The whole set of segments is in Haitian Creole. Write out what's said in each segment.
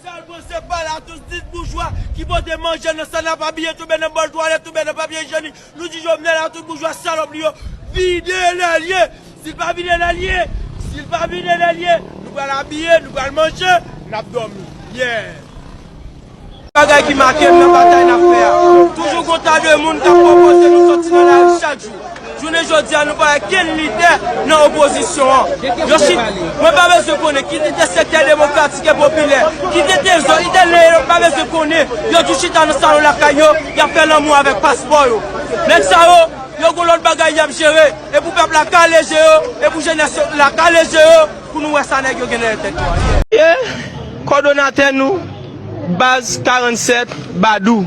Sal pran se pa la tous dis boujwa ki pote manje nan sa nap abiye touben nan bòl twalèt touben nan papye ijenik nou di jovenel a tout boujwa salòp li yo vide lè l ye sil pa vide lè l ye sil pa vide lè l ye nou pral abiye nou pral manje nap dòmi yè. Bagay ki make m nan batay nap fè a toujou gon ta de moun kap pwopoze nou sòti nan lari chak jou. Jounen jodi a nou pa wè kenn lidè nan opozisyon an. Yo chita, mwen pa bezwen konnen ki lidè sektè demokratik e popilè, ki detyen zo italyen yo m pa bezwen konnen, yo tou chita nan salon lakay yo, y ap fè lanmou avèk paspò yo. Nèg sa yo, yo gon lòt bagay y ap jere, e pou pèp la kale je yo, e pou jenès la kale je yo pou nou wè sa nèg yo gen dèyè tèt yo a. E kòdonatè nou, Baz 47, Badou.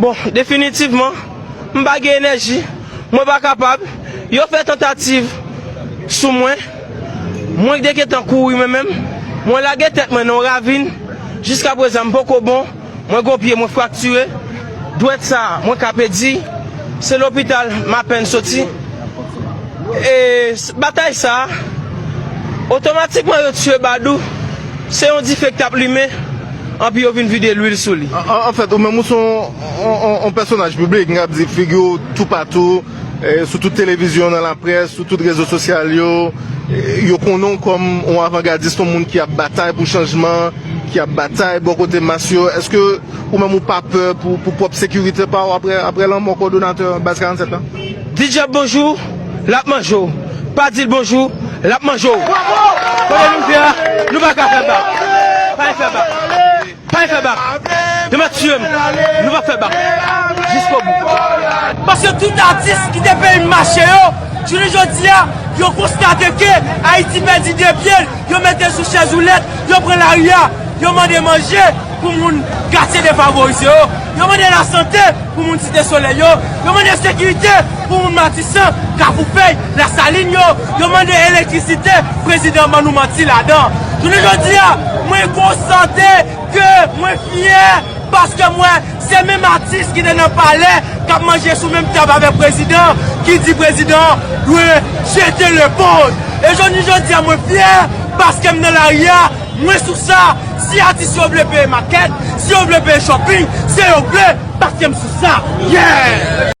Bon, definitivman, m pa gen enèji, mwen pa kapab, yo fè tantativ sou mwen, mwen te gentan kouri mwen menm, mwen lage tèt mwen nan yon ravin, jiska prezan m poko bon, mwen gen yon pye mwen fraktire, dwèt sa a mwen ka pèdi, se lopital m apèn soti, e batay sa a, otomatikman yo tiye Badou, se yon dife k t ap limen. Anpi yo vin vide lwil sou li. Anfèt, ou menm ou se yon pèsonaj piblik, m kab di figi w toupatou, sou tout televizyon, nan laprès, sou tout rezo sosyal yo. Yo konnen w kòm yon avangadis, yon moun ki ap batay pou chanjman, ki ap batay bò kote mas yo. Èske ou menm ou pa pè pou pwòp sekirite pa w apre lanmò kòdonatè Baz 47 la? Di dyab bonjou, l ap manje w. Pa di l bonjou, l ap manje w. Kote nou ye a, nou pa ka fè bak. Pa e fè bak. Pa e fè bak. Yo mèt tiye m. Nou p ap fè bak. Jiskobou. Paske tout atis ki te peyi m mache yo, jounen jodi a, yo konstate ke Ayiti pèdi de pye l. Yo mete sou chèzoulèt, yo pran lari a, yo mande manje. Pou moun katye defavorize yo, yo mande lasante pou moun Site Solèy yo, yo mande sekirite pou moun Matisan, Kafoufèy, Lasalin yo, yo mande elektrisite, prezidan ban nou manti ladan. Jounen jodi a, mwen konstate ke mwen fyè paske m wè se menm atis ki te nan palè k ap manje sou menm tab avèk prezidan ki di prezidan an dwe jete lepòz. E jounen jodi a mwen fyè paske m nan lari a. Mwen sou sa, si atis yo vle peye makèt, si yo vle peye shopping, se yo vle, paske m sou sa. Yeah!